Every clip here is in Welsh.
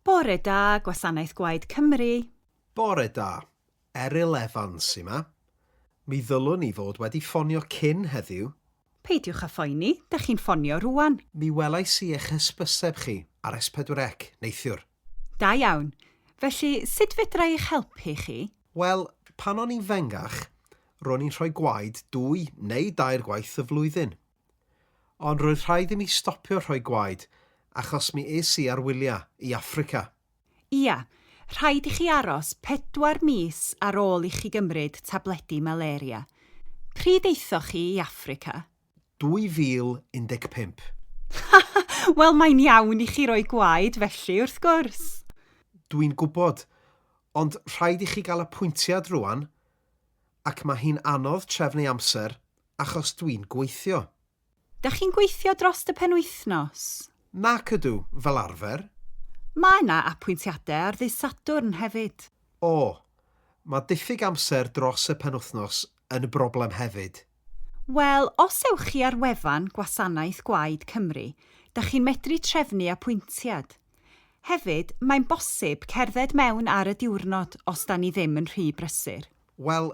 Bore da, Gwasanaeth Gwaed Cymru. Bore da. Eryl Evans sy 'ma. Mi ddylwn ni fod wedi ffonio cyn heddiw. Peidiwch â phoeni, dych chi'n ffonio rŵan. Mi welais i eich hysbyseb chi ar S4C neithiwr. Da iawn. Felly, sut fedra i eich helpu chi? Wel, pan o'n i'n fengach, ro'n i'n rhoi gwaed dwy neu dair gwaith y flwyddyn. Ond roedd rhaid i mi stopio rhoi gwaed achos mi es i ar wyliau i Affrica. Ia, rhaid i chi aros pedwar mis ar ôl i chi gymryd tabledi malaria. Pryd aethoch chi i Affrica? 2015. Ha! Wel, mae'n iawn i chi roi gwaed felly, wrth gwrs. Dwi'n gwybod, ond rhaid i chi gael apwyntiad rŵan, ac mae hi'n anodd trefnu amser, achos dwi'n gweithio. Dach chi'n gweithio drost y penwythnos? Nac ydw, fel arfer. Mae 'na apwyntiadau ar ddydd Sadwrn hefyd. O! Mae diffyg amser dros y penwythnos yn broblem hefyd. Wel, os ewch chi ar wefan Gwasanaeth Gwaed Cymru, dach chi'n medru trefnu apwyntiad. Hefyd, mae'n bosib cerdded mewn ar y diwrnod os 'da ni ddim yn rhy brysur. Wel,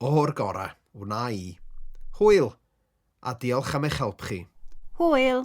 O'r gorau, wna i. Hwyl, a diolch am eich help chi. Hwyl!